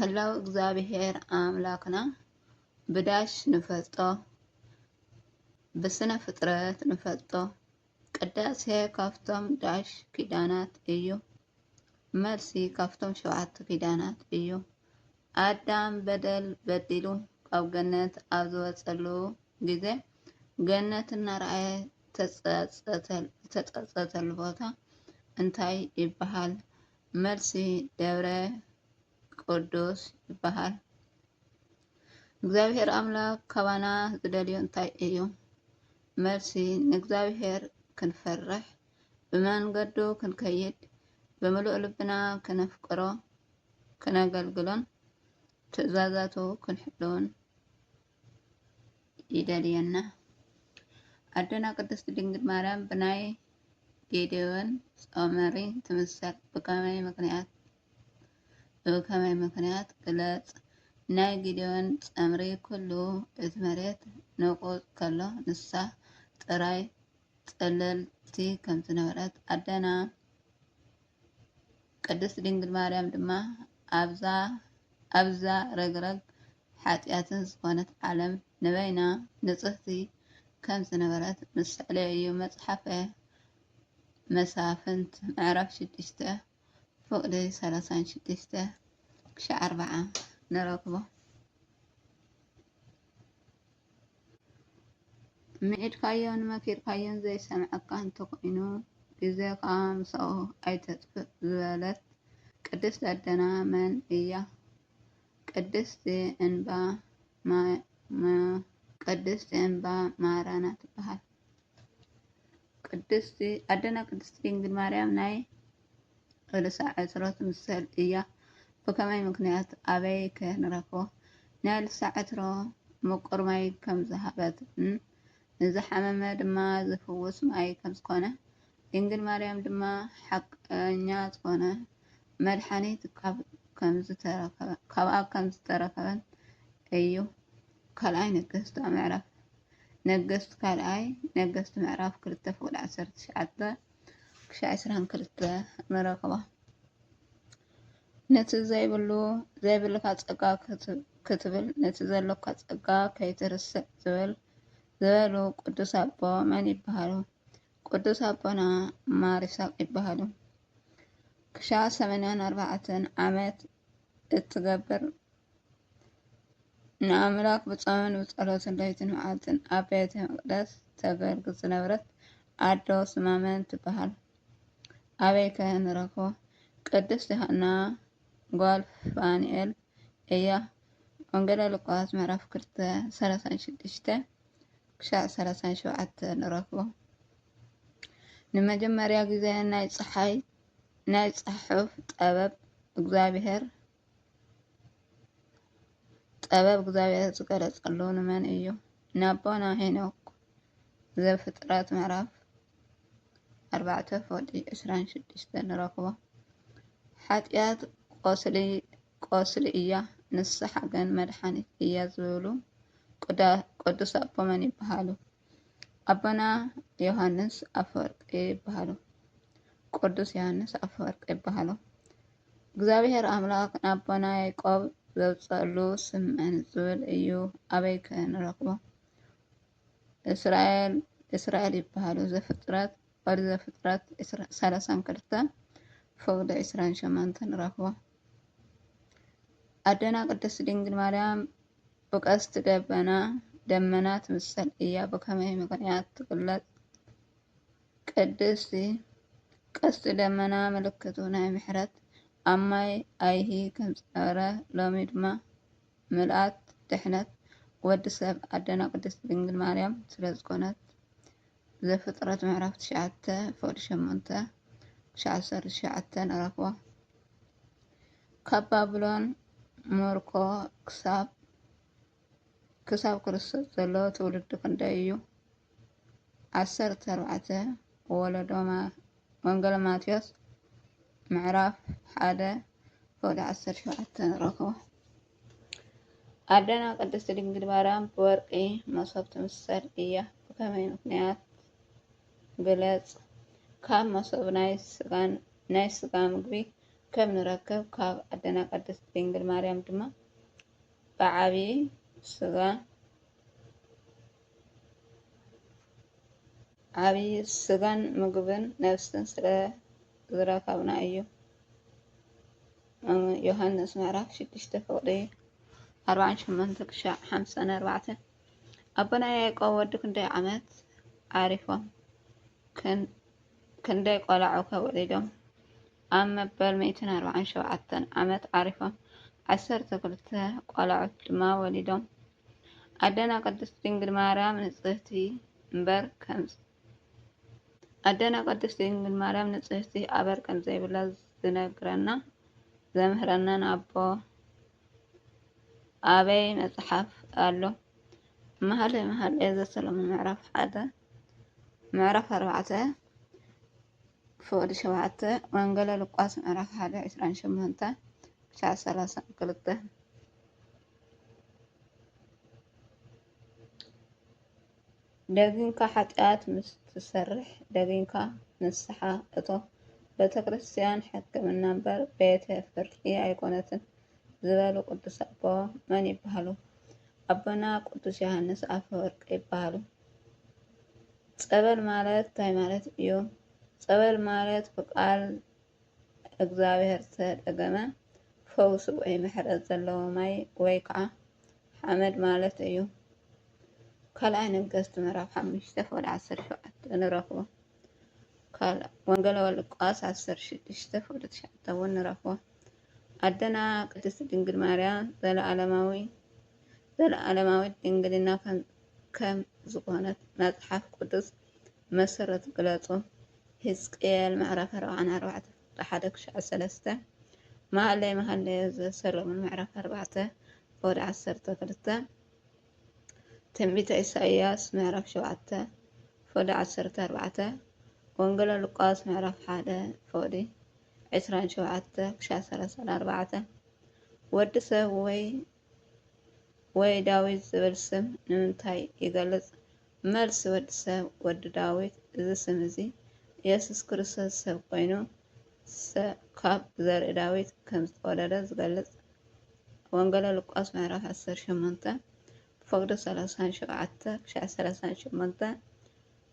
ህላው እግዚኣብሔር ኣምላክና ብዳሽ ንፈልጦ ብስነ ፍጥረት ንፈልጦ ቅዳሴ ካብቶም ዳሽ ኪዳናት እዩ። መልሲ ካብቶም ሸውዓተ ኪዳናት እዩ። ኣዳም በደል በዲሉ ካብ ገነት ኣብ ዝወጸሉ ግዜ፣ ገነት እናረኣየ ዝተጸጸተሉ ቦታ እንታይ ይበሃል? መልሲ፣ ደብረ ቅዱስ ይበሃል። እግዚኣብሄር ኣምላኽ ካባና ዝደልዮ እንታይ እዩ? መልሲ፣ ንእግዚኣብሄር ክንፈርሕ ብመንገዱ ክንከይድ ብምሉእ ልብና ክነፍቅሮ ክነገልግሎን ትእዛዛቱ ክንሕልውን ይደልየና። ኣደና ቅድስት ድንግል ማርያም ብናይ ጌዴዎን ጾመሪ ትምሰል ብከመይ ምክንያት ብከመይ ምክንያት ግለጽ ናይ ጊዴዎን ጸምሪ ኩሉ እቲ መሬት ንቁጽ ከሎ ንሳ ጥራይ ጽልልቲ ከም ዝነበረት ኣደና ቅድስት ድንግል ማርያም ድማ ኣብዛ ኣብዛ ረግረግ ሓጢኣትን ዝኾነት ዓለም ንበይና ንጽህቲ ከም ዝነበረት ምስዕሌ እዩ። መጽሓፈ መሳፍንት ምዕራፍ ሽዱሽተ ፍቕዲ ሰላሳን ሽዱሽተ ክሻዕ ኣርብዓ ንረክቦ። ምዒድካዮን መኪርካዮን ዘይሰምዐካ እንተኾይኑ ግዜኻ ምስኡ ኣይተጥፍእ ዝበለት ቅድስት ኣደና መን እያ? ቅድስቲ እምባ ማራ ትበሃል። ቅድስቲ ኣደና ቅድስቲ ድንግል ማርያም ናይ ርእሳ ዕትሮት ምሰል እያ ብከመይ ምክንያት ኣበይ ከ ንረክቦ ናይ ልሳ ዕትሮ ምቁር ማይ ከም ዝሃበት ን ንዝሓመመ ድማ ዝፍውስ ማይ ከም ዝኮነ ድንግል ማርያም ድማ ሓቀኛ ዝኮነ መድሓኒት ካብ ካብኣ ከም ዝተረከበን እዩ ካልኣይ ነገስት ምዕራፍ ነገስት ካልኣይ ነገስት ምዕራፍ ክልተ ፍቅዲ ዓሰርተ ትሽዓተ ክሻዕ ዕስራን ክልተ መረክባ ነቲ ዘይብሉ ዘይብልካ ፀጋ ክትብል ነቲ ዘሎካ ፀጋ ከይትርስዕ ዝብል ዝበሉ ቅዱስ ኣቦ መን ይበሃሉ? ቅዱስ ኣቦና ማር ይስሐቅ ይበሃሉ። ክሻዕ ሰማንያን ኣርባዕተን ዓመት እትገብር ንኣምላኽ ብጾምን ብጸሎትን ለይትን መዓልትን ኣብ ቤተ መቕደስ ተገልግል ዝነበረት ኣዶ ስማ መን ትበሃል? ኣበይ ከ ንረኽቦ? ቅድስት ዮሃና ጓል ፋንኤል እያ። ወንጌለ ሉቃስ ምዕራፍ 2 36 ክሻዕ 37 ንረኽቦ። ንመጀመርያ ግዜ ናይ ፀሓይ ናይ ጽሑፍ ጠበብ እግዚኣብሔር ጥበብ እግዚኣብሔር ዝገለጸሉ ንመን እዩ? ንኣቦና ሄኖክ ዘፍጥረት ምዕራፍ ኣርባዕተ ፎጢ ዕስራን ሽዱሽተን ንረኽቦ። ሓጢኣት ቆስሊ ቆስሊ እያ፣ ንስሓ ግን መድሓኒት እያ ዝብሉ ቅዱስ ኣቦ መን ይበሃሉ? ኣቦና ዮሃንስ ኣፈወርቅ ይበሃሉ። ቅዱስ ዮሃንስ ኣፈወርቅ ይበሃሉ። እግዚኣብሔር ኣምላኽ ንኣቦና ያዕቆብ ዘውፀሉ ስም መን ዝብል እዩ? ኣበይ ከ ንረኽቦ? እስራኤል እስራኤል ይበሃሉ። ዘፍጥረት ኦሪት ዘፍጥረት ሰላሳን ክልተ ፈቅዶ ዕስራን ሸሞንተን ንረኽቦ። ኣደና ቅድስት ድንግል ማርያም ብቀስት ደበና ደመና ትምሰል እያ ብከመይ ምክንያት ትግለጽ? ቅድስቲ ቀስት ደመና ምልክቱ ናይ ምሕረት ኣብ ማይ ኣይሂ ከምዝነበረ ሎሚ ድማ ምልኣት ድሕነት ወዲ ሰብ ኣደና ቅድስቲ ድንግል ማርያም ስለዝኮነት ዘፍጥረት ምዕራፍ ትሽዓተ ፍቕዲ ሸሞንተ ክሻዕ ዓሰርተ ትሽዓተ ንረኽቦ ካብ ባብሎን ሞርኮ ክሳብ ክሳብ ክርስቶስ ዘሎ ትውልዲ ክንደይ እዩ ዓሰርተ ኣርባዕተ ወለዶ ማ- ወንጌል ማቴዎስ ምዕራፍ ሓደ ፍቕዲ ዓሰርተ ሸውዓተ ንረኽቦ ኣደና ቅድስት ድንግል ማርያም ብወርቂ መሶብ ትምሰል እያ ብከመይ ምክንያት ግለፅ? ካብ መሶብ ናይ ስጋ ምግቢ ከም ንረክብ ካብ ኣደና ቅድስት ድንግል ማርያም ድማ ብዓብይ ስጋን ምግብን ነብስን ስለ ዝረከብና እዩ። ዮሃንስ ምዕራፍ ሽዱሽተ ፍቕዲ ኣርባዓን ሸሞንተ ክሻዕ ሓምሳን ኣርባዕተ ኣቦና ያዕቆብ ወዲ ክንደይ ዓመት ዓሪፎም ክንደይ ቆላዑ ከወሊዶም ኣብ መበል ሚእትን ኣርባዓን ሸውዓተን ዓመት ዓሪፎም ዓሰርተ ክልተ ቆላዑት ድማ ወሊዶም ኣደና ቅድስት ድንግል ማርያም ንጽህቲ እምበር ከም ኣደና ቅድስት ድንግል ማርያም ንፅህቲ ኣበር ከምዘይብላ ዝነግረና ዘምህረናን ኣቦ ኣበይ መፅሓፍ ኣሎ? መሃልየ መሃልየ ዘሰሎሙ ምዕራፍ ሓደ ምዕራፍ ኣርባዕተ ክፍቅዲ ሸውዓተ ወንገለ ሉቃስ ምዕራፍ ሓደ ዕስራን ሸሞንተ ክሻዕ ሰላሳን ክልተ ደጊምካ ሓጢኣት ምስ ትሰርሕ ደጊምካ ንስሓ እቶ። ቤተክርስትያን ሕክምና እምበር ቤተ ፍርዲ ኣይኮነትን ዝበሉ ቅዱስ ኣቦ መን ይበሃሉ? ኣቦና ቅዱስ ዮሃንስ ኣፈወርቅ ይበሃሉ። ጸበል ማለት እንታይ ማለት እዩ? ጸበል ማለት ብቃል እግዚኣብሔር ዝተደገመ ፈውሲ ወይ ምሕረት ዘለዎ ማይ ወይ ከዓ ሓመድ ማለት እዩ። ካልኣይ ነገሥት ምዕራፍ ሓሙሽተ ፍቅዲ ዓሰርተ ሸውዓተ ንረኽቦ። ካልእ ወንጌል ሉቃስ ዓሰርተ ሽዱሽተ ፍቅዲ ትሽዓተ እውን ንረኽቦ። ኣደና ቅድስት ድንግል ማርያም ዘለዓለማዊ ዘለዓለማዊት ድንግልና ከም- ከም ዝኾነት መጽሓፍ ቅዱስ መሰረት ግለጹ። ሕዝቅኤል ምዕራፍ ኣርብዓን ኣርባዕተ ፍቅዲ ሓደ ክሻዕ ሰለስተ መሃለይ መሃለዮ ዘሰሎሞን ምዕራፍ ኣርባዕተ ኦድ ዓሰርተ ክልተ፣ ትንቢተ ኢሳይያስ ምዕራፍ ሸውዓተ ፎዲ ዓሰርተ ኣርባዕተ፣ ወንጌለ ሉቃስ ምዕራፍ ሓደ ፎዲ ዕስራን ሸውዓተ ክሻ ሰላሳን ኣርባዕተ፣ ወዲ ሰብ ወይ ወይ ዳዊት ዝብል ስም ንምንታይ ይገልጽ? መልሲ፣ ወዲ ሰብ ወዲ ዳዊት እዚ ስም እዚ ኢየሱስ ክርስቶስ ሰብ ኮይኑ ካብ ዘርኢ ዳዊት ከም ዝተወለደ ዝገልጽ ወንገለ ሉቃስ ምዕራፍ ዓሰርተ ሸሞንተ ፍቕዲ ሰላሳን ሸውዓተ ክሻዕ ሰላሳን ሸሞንተ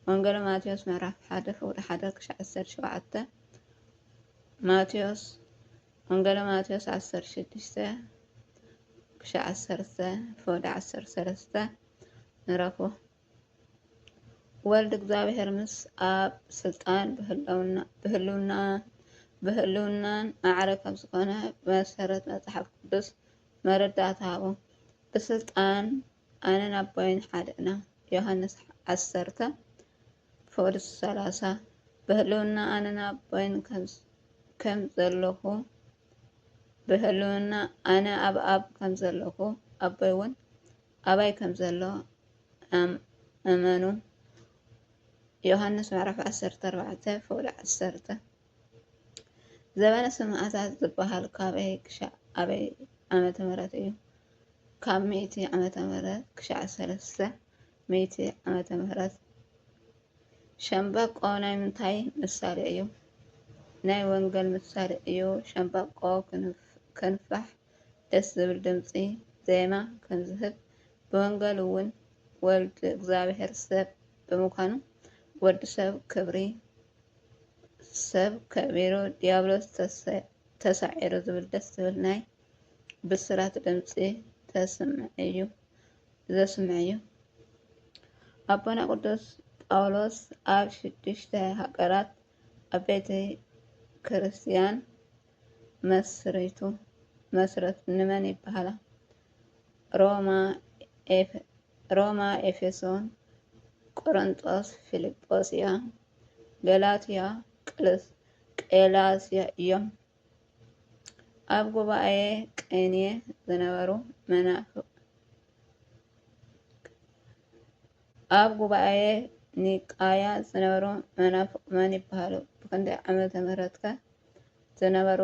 ወንገለ ማቴዎስ ምዕራፍ ሓደ ፍቕዲ ሓደ ክሻዕ ዓሰርተ ሸውዓተ ማቴዎስ ወንገለ ማቴዎስ ዓሰርተ ሽዱሽተ ክሻዕ ዓሰርተ ፍቕዲ ዓሰርተ ሰለስተ ንረኽቦ ወልድ እግዚኣብሔር ምስ ኣብ ስልጣን ብህልውናን ማዕረ ከም ዝኾነ ብመሰረት መፅሓፍ ቅዱስ መረዳእታ ሃቡ። ብስልጣን ኣነን ኣቦይን ሓደ ኢና ዮሐንስ ዓሰርተ፣ ፍቅድ ሰላሳ ብህልውና ኣነን ኣቦይን ከም ዘለኹ ብህልውና ኣነ ኣብ ኣብ ከም ዘለኹ ኣቦይ እውን ኣባይ ከም ዘሎ ኣመኑ። ዮሃንስ ምዕራፍ ዓሰርተ ኣርባዕተ ፍቕዲ ዓሰርተ ዘበነ ሰማእታት ዝበሃል ካበይ ክሻዕ ኣበይ ዓመተ ምህረት እዩ? ካብ ሚእቲ ዓመተ ምህረት ክሻዕ ሰለስተ ሚእቲ ዓመተ ምህረት ሸምበቆ ናይ ምንታይ ምሳሌ እዩ? ናይ ወንጌል ምሳሌ እዩ። ሸምበቆ ክንፋሕ ደስ ዝብል ድምፂ ዜማ ከምዝህብ ብወንገል እውን ወልድ እግዚኣብሔር ሰብ ብምኳኑ ወዲ ሰብ ክብሪ ሰብ ከቢሩ ዲያብሎስ ተሳዒሩ ዝብል ደስ ዝብል ናይ ብስራት ድምፂ ተስምዕ እዩ ዘስምዕ እዩ። ኣቦና ቅዱስ ጳውሎስ ኣብ ሽዱሽተ ሃገራት ኣብ ቤተ ክርስቲያን መስሪቱ መስረት ንመን ይበሃላ? ሮማ፣ ኤፌሶን፣ ቆሮንጦስ፣ ፊልጶስያ፣ ገላትያ፣ ቄላስያ እዮም። ኣብ ጉባኤ ቀይንየ ዝነበሩ መናፍቅ ኣብ ጉባኤ ኒቃያ ዝነበሩ መናፍቅ መን ይበሃሉ? ብክንደይ ዓመተ ምህረትከ? ዝነበሩ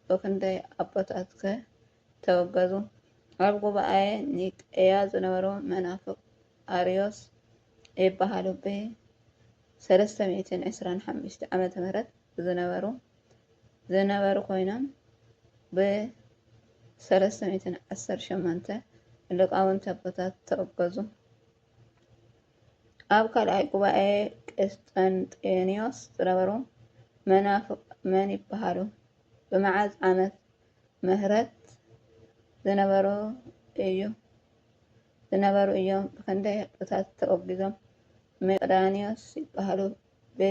ብኽንደይ ኣቦታት ከ ተወገዙ? ኣብ ጉባኤ ኒቀያ ዝነበሩ መናፍቅ ኣርዮስ ይበሃሉ ብ ሰለስተ ሚእትን ዕስራን ሓሙሽተ ዓመተ ምህረት ዝነበሩ ዝነበሩ ኮይኖም ብ ሰለስተ ሚእትን ዓሰርተ ሸሞንተ ልቃውንቲ ኣቦታት ተወገዙ። ኣብ ካልኣይ ጉባኤ ቍስጥንጥንዮስ ዝነበሩ መናፍቕ መን ይበሃሉ? ብመዓዝ ዓመተ ምሕረት ዝነበሩ ኢዮም? ብኽንደይ ዕጡቓት ተወጊዞም? መቄዶንዮስ ይበሃሉ። ብ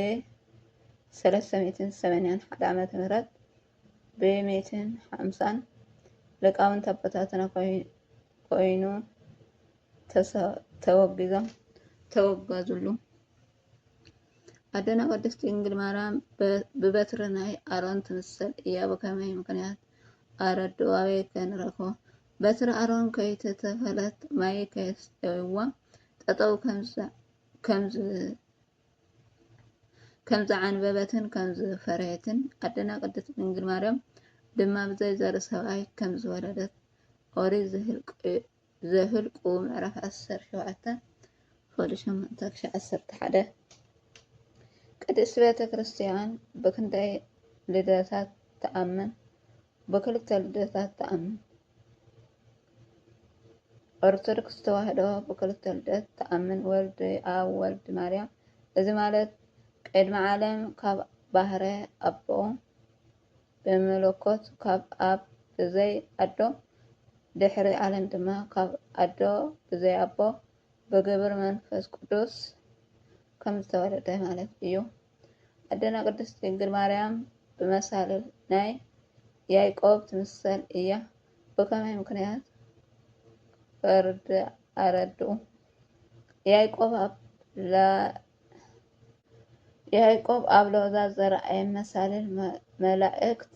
ሰለስተ ሚእትን ሰማንያን ሓደ ዓመተ ምሕረት ብ ሚእትን ሓምሳን ሊቃውንቲ ኣቦታትና ኰይኑ። ተወጊዞም ተወጋዙሉ። ኣደና ቅድስት ድንግል ማርያም ብበትሪ ናይ ኣሮን ትምሰል እያ ብከመይ ምክንያት ኣረዱ ኣበይ ከንረክቦ በትሪ ኣሮን ከይተተኸለት ማይ ከየስተይዋ ጠጠው ከምዝዓንበበትን ከምዝፈረየትን ኣደና ቅድስት ድንግል ማርያም ድማ ብዘይ ዘርኢ ሰብኣይ ከምዝወለደት ኦሪት ዘኍልቍ ዘኍልቍ ምዕራፍ ዓሰርተ ሸውዓተ ፍቕዲ ሸሞንተ ክሻዕ ዓሰርተ ሓደ ቅድስት ቤተ ክርስቲያን ብክንደይ ልደታት ትኣምን? ብክልተ ልደታት ትኣምን። ኦርቶዶክስ ተዋህዶ ብክልተ ልደት ትኣምን፣ ወልድ ኣብ ወልድ ማርያም። እዚ ማለት ቅድሚ ዓለም ካብ ባህረ ኣቦ ብምልኮት ካብ ኣብ ብዘይ ኣዶ ድሕሪ ዓለም ድማ ካብ ኣዶ ብዘይ ኣቦ ብግብሪ መንፈስ ቅዱስ ከም ዝተወለደ ማለት እዩ። ኣደና ቅድስት ድንግል ማርያም ብመሳልል ናይ ያይቆብ ትምሰል እያ። ብከመይ ምክንያት ፈርድ ኣረድኡ ያይቆብ ኣብ ያእቆብ ኣብ ሎዛ ዝረኣየ መሳልል መላእክት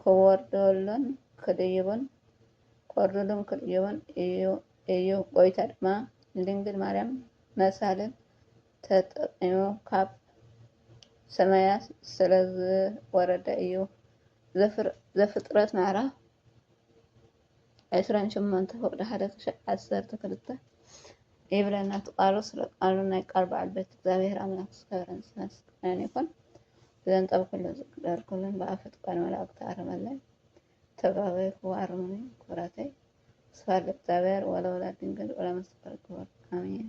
ክወርዱሉን ክድይቡን እዩ፣ ጐይታ ድማ ንድንግል ማርያም መሳልል ተጠቒሙ ካብ ሰማያት ስለዝወረደ እዩ፣ ዘፍጥረት ምዕራፍ ዕስራን ሸሞንተ ፍቅዲ ሓደ ክሸዕ ዓሰርተ ክልተ ይብለና እቲ ቃሉ ስለ ቃሉ ናይ ቃል በዓል ቤት እግዚኣብሔር ኣምላክ ዝከበረን ዝተመስገነን ይኩን ዘንጠብኩሉን ዝግደርኩሉን ብኣፈት ቃል መላእክቲ ኣረመለይ ተጋበይኩ ኣርሙኒ ክብረተይ ስፋል እግዚኣብሔር ወለወላድ ድንግል ወለመስቀል ክቡር ኣሜን